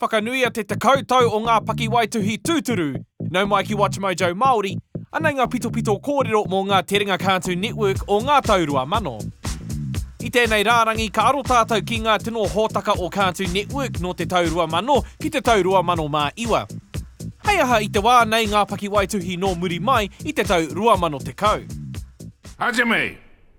Whakanuia te tekau tau o ngā pakiwaituhi tūturu, nau mai ki WatchMojo Māori, anei ngā pitopito kōrero mō ngā terenga Cartoon Network o ngā tau 2000. I tēnei rārangi ka aro tātou ki ngā tino hōtaka o Cartoon Network nō te tau 2000 ki te tau 2009. Hei aha i te wā nei ngā pakiwaituhi nō muri mai i te tau 2010? Haere mai!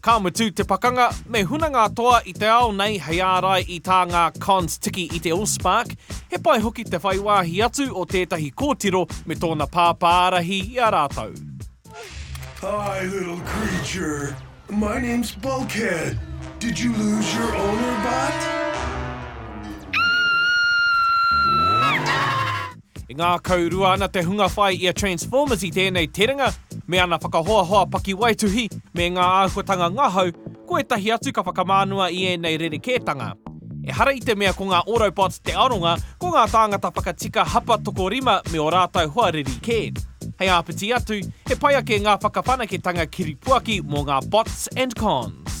Ka mutu te pakanga, me huna ngā toa i te ao nei hei ārai i tā ngā Cons tiki i te Allspark, he pai hoki te whai wāhi atu o tētahi kōtiro me tōna pāpā ārahi i a rātou. Hi little creature, my name's Bulkhead, did you lose your owner but? E ngākau rua ana te hunga whai i a Transformers i tēnei terenga, me ana whakahoahoa pakiwaituhi, me ngā āhuatanga ngahau, ko ētahi atu ka whakamānua i ēnei rerekētanga. Ehara i te mea ko ngā Autobots te aronga, ko ngā tāngata whakatika hapa tokorima me ō rātou hoa riri kē. Hei āpiti atu, he pai ake ngā whakawhanaketanga kiripuaki mō ngā Bots and Cons.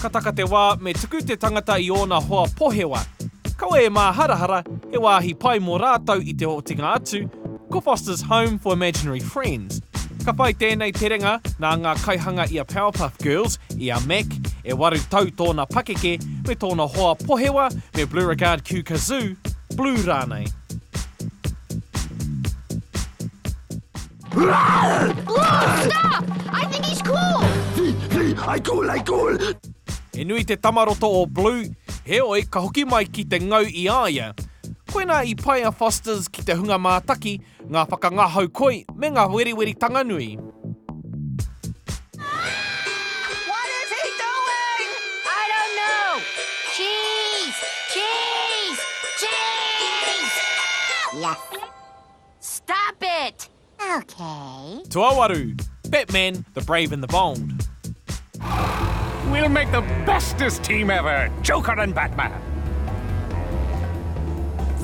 Ka taka te wā, me tuku te tangata i ōna hoa pohewa. Kaua e māharahara, he wāhi pai mō rātou i te otinga atu, ko Foster's Home for Imaginary Friends. Ka whai tēnei terenga nā ngā kaihanga i a Powerpuff Girls, i a Mac, e waru tau tōna pakeke, me tōna hoa pohewa me Bleuregard Q Kazoo, Blue rānei. He nui te tamaroto o Blue, heoi ka hoki mai ki te ngau i a ia. Koinā i pai a Foster's ki te hunga mātaki, ngā whakangahau koi me ngā weriweritanga nui. Stop it! Okay. Tuawaru, Batman, the Brave and the Bold. We'll make the bestest team ever, Joker and Batman.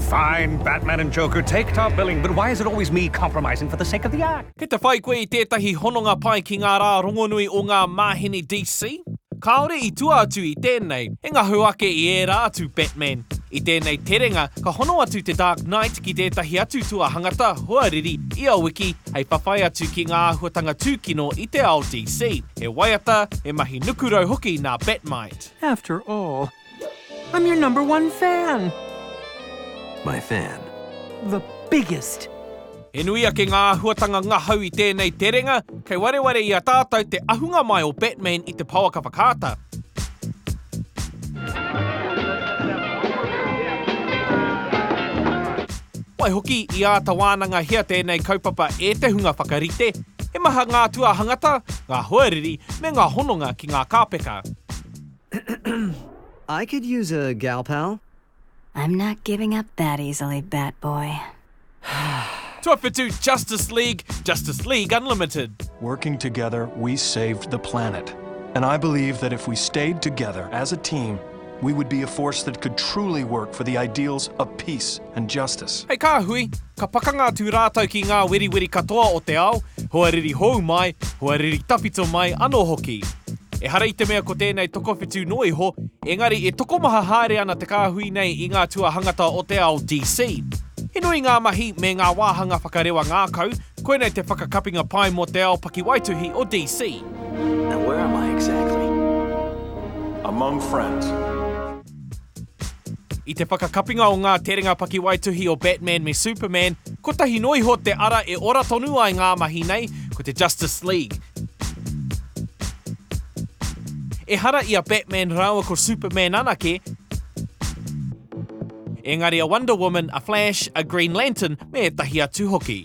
Fine, Batman and Joker, take top billing, but why is it always me compromising for the sake of the act? Kei te whai koe i tētahi hononga pai ki ngā rā rongonui o ngā māheni DC? Kāore i tua atu i tēnei, He ngahu ake i ērā atu Batman. I tēnei terenga, ka hono atu te Dark Knight ki tētahi atu tuahangata, hoariri, ia wiki, hei whawhai atu ki ngā āhuatanga tūkino i te ao DC. He waiata, he mahi nukurau hoki nā Batmind. After all, I'm your number one fan! My fan. The biggest! He nui ake ngā āhuatanga ngahau i tēnei terenga, kei wareware i a tātou te ahunga mai o Batman i te pouaka whakaata. Waihoki, i āta wānangahia tēnei kaupapa e te hunga whakarite, he maha ngā tuāhangata, ngā hoariri, me ngā hononga ki ngā kāpeka. I could use a gal pal. I'm not giving up that easily, bat boy. Tuawhitu Justice League, Justice League Unlimited. Working together, we saved the planet. And I believe that if we stayed together as a team, we would be a force that could truly work for the ideals of peace and justice. Hei kā hui, ka pakanga atu rātou ki ngā weriweri katoa o te ao, hoariri hou mai, hoariri tawhito mai anō hoki. Ehara i te mea ko tēnei tokowhitu noa iho, engari e tokomaha haere ana te kāhui nei i ngā tuahangata o te ao DC. He nui ngā mahi me ngā wāhanga whakarewa ngākau, koinei te whakakapinga pai mō te ao pakiwaituhi o DC. Now where am I exactly? Among friends. I te whakakapinga o ngā terenga pakiwaituhi o Batman me Superman, kotahi noa iho te ara e ora tonu ai ngā mahi nei, ko te Justice League. Ehara i a Batman rāua ko Superman anake, engari a Wonder Woman, a Flash, a Green Lantern me ētahi atu hoki.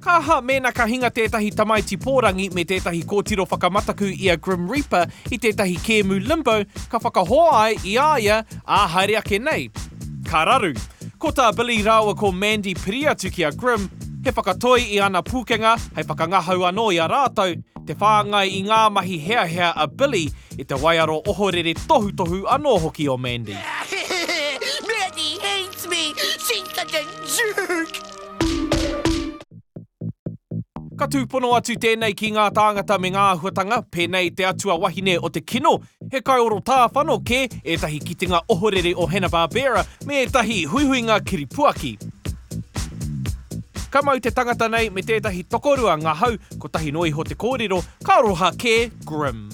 Ka aha mēnā ka hinga tētahi tamaiti pōrangi me tētahi kōtiro whakamataku i a Grim Reaper i tētahi kēmu Limbo ka whakahoa ai i a ia, ā, haere ake nei? Ka raru. Ko tā Billy rāua ko Mandy piri atu ki a Grim, he whakatoi i ana pūkenga hei whakangahau anō i a rātou, te whāngai i ngā mahi heahea a Billy i te waiaro ohorere tohutohu anō hoki o Mandy. Mandy hates me, she such a jerk! Ka tūpono atu tēnei ki ngā tāngata me ngā āhuatanga, pēnei te atua wahine o te kino, he kaioro tāwhano kē, ētahi kitenga ohorere o Hanna-Barbera, me ētahi huihuinga kiripuaki. Ka mau te tangata nei me tētahi tokorua ngahau, kotahi noa iho te kōrero, ka roha kē Grimm.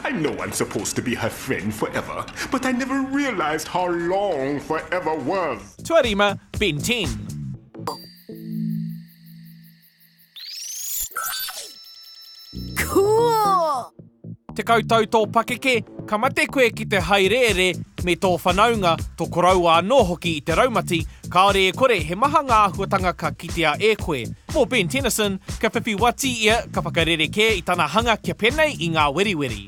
I know I'm supposed to be her friend forever, but I never realised how long forever was. Tuarima, Ben 10. Cool! Tekau tau tō pakeke, ka mate koe ki te haereere me tō whanaunga, tō koroua anō hoki i te raumati, kāore e kore he maha ngā āhuatanga ka kitea e koe. Mō Ben Tennyson, ka whiwhi wati ia, ka whakarerekē i tana hanga kia penei i ngā weriweri.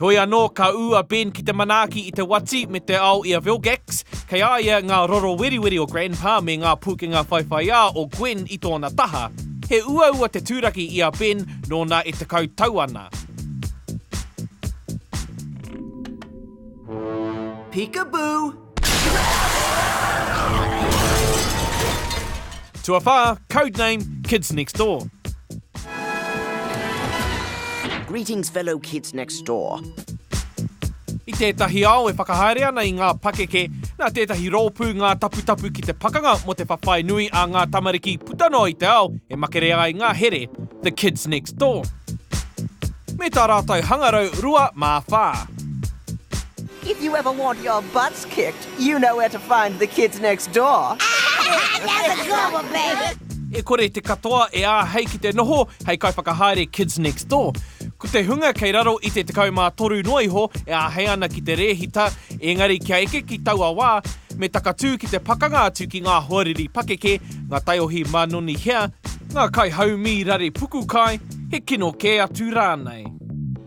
Heoi anō, ka ū a Ben ki te manaaki i te wati me te ao i a Vilgax, kei a ia ngā roro weriweri o Grandpa me ngā pūkenga whaiwhaiā o Gwen i tōna taha. He uaua te tūraki i a Ben nōna e tekau tau ana. Peekaboo! Tuawhā, codename Kids Next Door. Greetings fellow kids next door. I tētahi ao e whakahaere ana i ngā pakeke, nā tētahi rōpū ngā taputapu ki te pakanga mō te whawhai nui a ngā tamariki puta noa i te ao e makere ai ngā here, The Kids Next Door. Me tā rātou hangarau rua mā whā. If you ever want your butts kicked, you know where to find the kids next door. That's a drama, baby! E kore te katoa e āhei ki te noho hei kaiwhakahaere Kids Next Door. Ko te hunga kei raro i te 13 noa iho e āhei ana ki te rēhita, ēngari kia eke ki taua wā, me takatū ki te pakanga atu ki ngā hoariri pakeke, ngā taiohi mānoni hea, ngā kaihaumi rare puku kai, he kino kē atu rānei.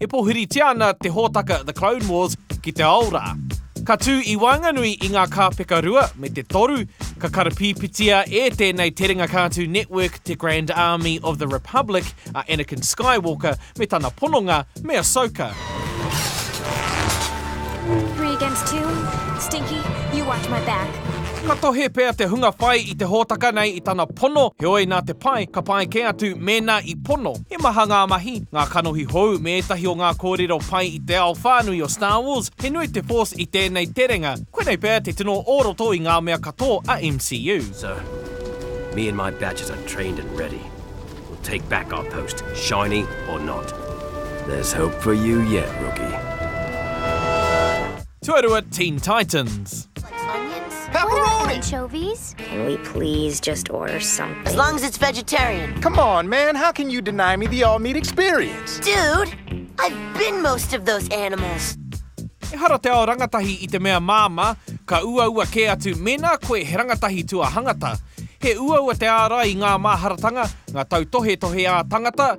E pōhiritia ana te hōtaka The Clone Wars ki te ao rā. Ka tū i waenganui i ngā kāpeka rua me te toru, ka karapīpitia e tēnei terenga kātū network te Grand Army of the Republic a Anakin Skywalker me tana pononga me Ahsoka. Three against two? Stinky, you watch my back. Ka tohe pea te hunga whai i te hōtaka nei i tana pono, heoi nā te pai, ka pai kē atu mēnā i pono. He maha ngā mahi, ngā kanohi hou me ētahi o ngā kōrero pai i te ao whānui o Star Wars, he nui te Force i tēnei terenga, koinei pea te tino o roto i ngā mea katō a MCU. So, me and my badges are trained and ready, we'll take back our post, shiny or not. There's hope for you yet, rookie. Tuarua Teen Titans. Pepperoni! Anchovies? Can we please just order something? As long as it's vegetarian. Come on, man, how can you deny me the all-meat experience? Dude, I've been most of those animals. Ehara te ao rangatahi i te mea māmā, ka uaua kē atu mēnā koe he rangatahi tuahangata. He uaua te ārai i ngā māharatanga, ngā tautohetohe ā-tangata,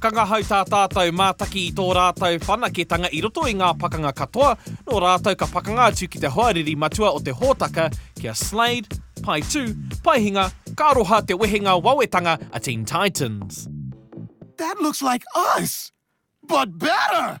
Ka ngahau tā tātou mātaki i tō rātou whanaketanga i roto i ngā pakanga katoa, nō rātou ka pakanga atu ki te hoariri matua o te hōtaka kia Slade, Pae Tū, Pae Hinga, ka aroha te wehenga wawetanga a Teen Titans. That looks like us, but better!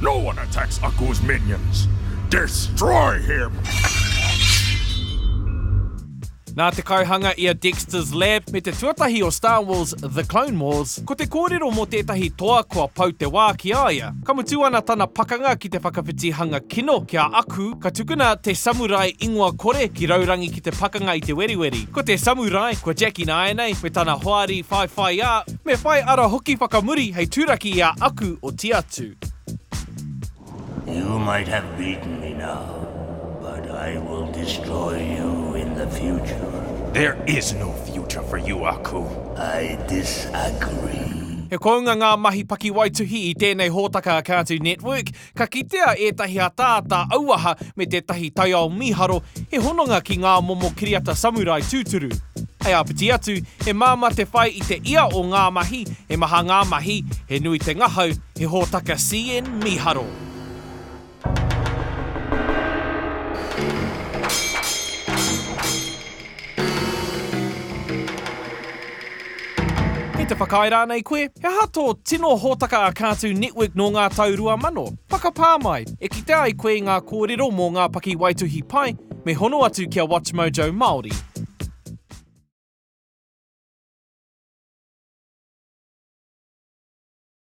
No one attacks Aku's minions! Destroy him! Nā te kaihanga i a Dexter's Lab me te tuatahi o Star Wars, The Clone Wars, ko te kōrero mō tētahi toa kua pau te wā ki a ia. Ka mutu ana tana pakanga ki te whakawhiti hanga kino ki a Aku, ka tukuna te samurai ingoa kore ki raurangi ki te pakanga i te weriweri. Ko te samurai, ko Jackie nāianei, me tana hoari whaiwhaiā, Me whai ara hoki whakamuri hei turaki i a aku o Tiatu. You might have beaten me now, but I will destroy you in the future. There is no future for you, Aku. I disagree. He kounga ngā mahi pakiwaituhi i tēnei hōtaka a Cartoon Network, Ka kitea ētahi ataata auaha me tētahi taiao mīharo he hononga ki ngā momo kiriata samurai tūturu. Hei āpiti atu, he māmā te whai i te ia o ngā mahi, he maha ngā mahi, he nui te ngahau, he hōtaka CN mīharo. Kei te whakaae rānei koe? He aha tō tino hōtaka a Cartoon Network nō ngā tau 2000? Whakapā mai! E kitea ai koe i ngā kōrero mō ngā pakiwaituhi pai, me hono atu ki a WatchMojo Māori.